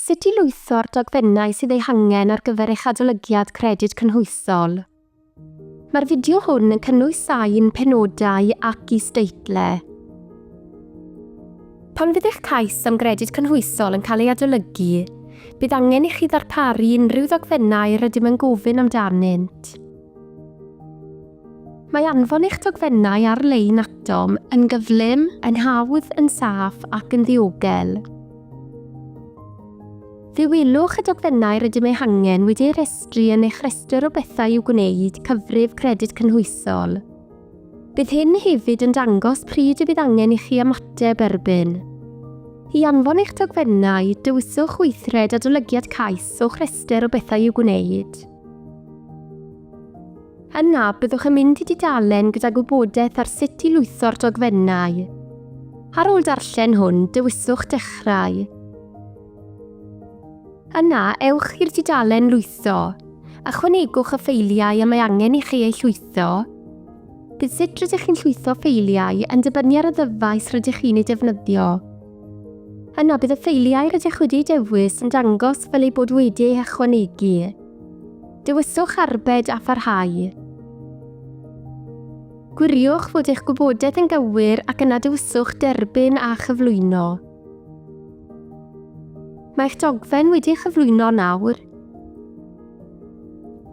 Sut i lwytho'r dogfennau sydd eu hangen ar gyfer eich Adolygiad Credyd Cynhwysol. Mae'r fideo hwn yn cynnwys sain, penodau ac is-deitlau. Pan fydd eich cais am Gredyd Cynhwysol yn cael ei adolygu, bydd angen i chi ddarparu unrhyw ddogfennau rydym yn gofyn amdanynt. Mae anfon eich dogfennau ar-lein atom yn gyflym, yn hawdd, yn saff ac yn ddiogel. Fe welwch y dogfennau rydym eu hangen wedi eu rhestru yn eich rhestr o bethau i'w gwneud, cyfrif Credyd Cynhwysol. Bydd hyn hefyd yn dangos pryd y bydd angen i chi ymateb erbyn. I anfon eich dogfennau, dewiswch weithred Adolygiad Cais o'ch rhestr o bethau i'w gwneud. Yna, byddwch yn mynd i dudalen gyda gwybodaeth ar sut i lwytho'r dogfennau. Ar ôl darllen hwn, dewiswch Dechrau. Yna, ewch i'r dudalen Lwytho. Ychwanegwch y ffeiliau y mae angen i chi eu llwytho. Bydd sut rydych chi'n llwytho ffeiliau yn dibynnu ar y ddyfais rydych chi'n ei defnyddio. Yna bydd y ffeiliau rydych wedi dewis yn dangos fel eu bod wedi eu hychwanegu. Dewiswch Arbed a Pharhau. Gwiriwch fod eich gwybodaeth yn gywir ac yna dewiswch Derbyn a Chyflwyno. Mae eich dogfen wedi ei chyflwyno nawr.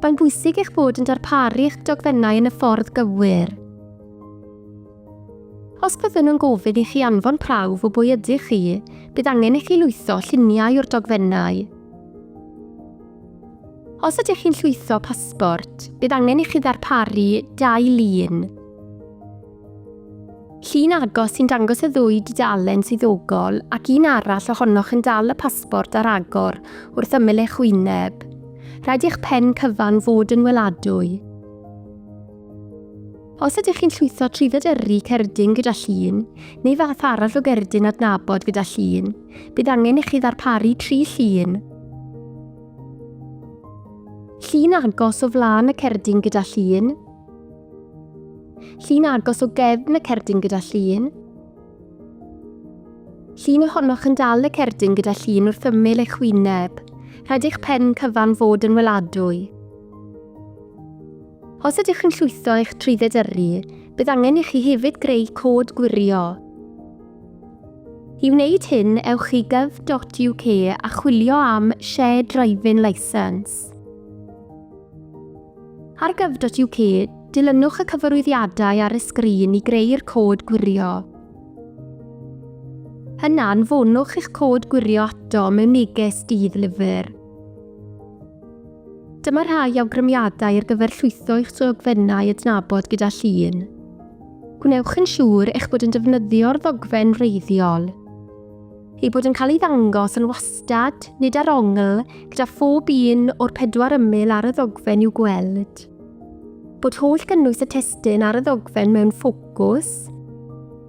Mae'n bwysig eich bod yn darparu eich dogfennau yn y ffordd gywir. Os byddwn yn gofyn i chi anfon prawf o bwy ydych chi, bydd angen i chi lwytho lluniau o'r dogfennau. Os ydych chi'n llwytho pasbort, bydd angen i chi ddarparu dau lun. Llun agos sy'n dangos y ddwy dudalen swyddogol ac un arall ohonoch yn dal y pasbort ar agor wrth ymyl eich wyneb. Rhaid i'ch pen cyfan fod yn weladwy. Os ydych chi'n llwytho trwydded yrru cerdyn gyda llun, neu fath arall o gerdyn adnabod gyda llun, bydd angen i chi ddarparu tri llun. Llun agos o flaen y cerdyn gyda llun. Llun agos o gefn y cerdyn gyda llun. Llun ohonoch yn dal y cerdyn gyda llun wrth ymyl eich wyneb. Rhaid eich pen cyfan fod yn weladwy. Os ydych yn llwytho eich trwydded yrru, bydd angen i chi hefyd greu cod gwirio. I wneud hyn, ewch i gov.uk a chwilio am Shared Driving Licence. Ar gov.uk, dilynwch y cyfarwyddiadau ar y sgrin i greu'r cod gwirio. Yna, anfonwch eich cod gwirio ato mewn neges dydd lyfr. Dyma rhai awgrymiadau ar gyfer llwytho eich dogfennau adnabod gyda llun. Gwnewch yn siŵr eich bod yn defnyddio'r ddogfen wreiddiol, ei bod yn cael ei ddangos yn wastad, nid ar ongl, gyda phob un o'r pedwar ymyl ar y ddogfen i'w gweld, bod holl gynnwys y testun ar y ddogfen mewn ffocws,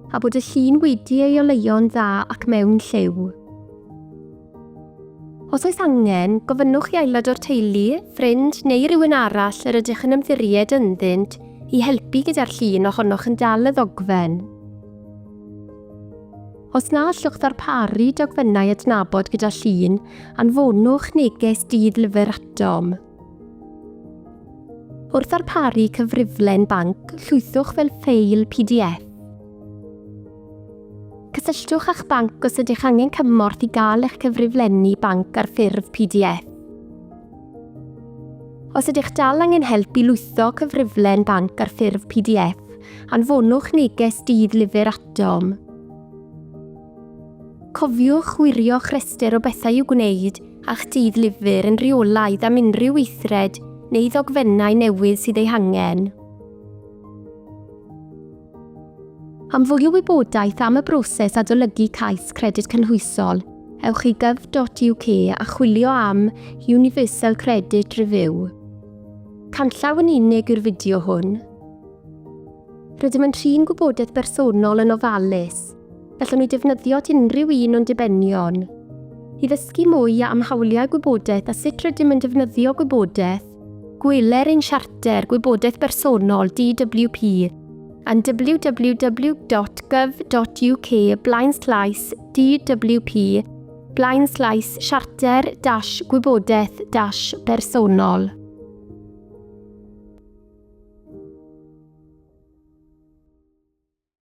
a bod y llun wedi ei oleuo'n dda ac mewn lliw. Os oes angen, gofynnwch i aelod o'r teulu, ffrind neu rywun arall yr ydych yn ymddiried ynddynt i helpu gyda'r llun ohonoch yn dal y ddogfen. Os na allwch ddarparu dogfennau adnabod gyda llun, anfonwch neges dydd lyfr atom. Wrth ddarparu cyfriflen banc, llwythwch fel ffeil pdf. Cysylltwch â'ch banc os ydych angen cymorth i gael eich cyfriflenni banc ar ffurf pdf. Os ydych dal angen help i lwytho cyfriflen banc ar ffurf pdf, anfonwch neges dydd lyfr atom. Cofiwch wirio'ch rhestr o bethau i'w gwneud a'ch dydd lyfr yn rheolaidd am unrhyw weithred neu ddogfennau newydd sydd eu hangen. Am fwy o wybodaeth am y broses adolygu cais Credyd Cynhwysol, ewch i gov.uk a chwilio am Universal Credit Review. Canllaw yn unig yw'r fideo hwn. Rydym yn trin gwybodaeth bersonol yn ofalus. Gallwn ni defnyddio at unrhyw un o'n dibenion. I ddysgu mwy am hawliau gwybodaeth a sut rydym yn defnyddio gwybodaeth, Gweler ein Siarter Gwybodaeth Bersonol, DWP, yn www.gov.uk blaenslaes DWP blaenslaes siarter dash gwybodaeth dash bersonol.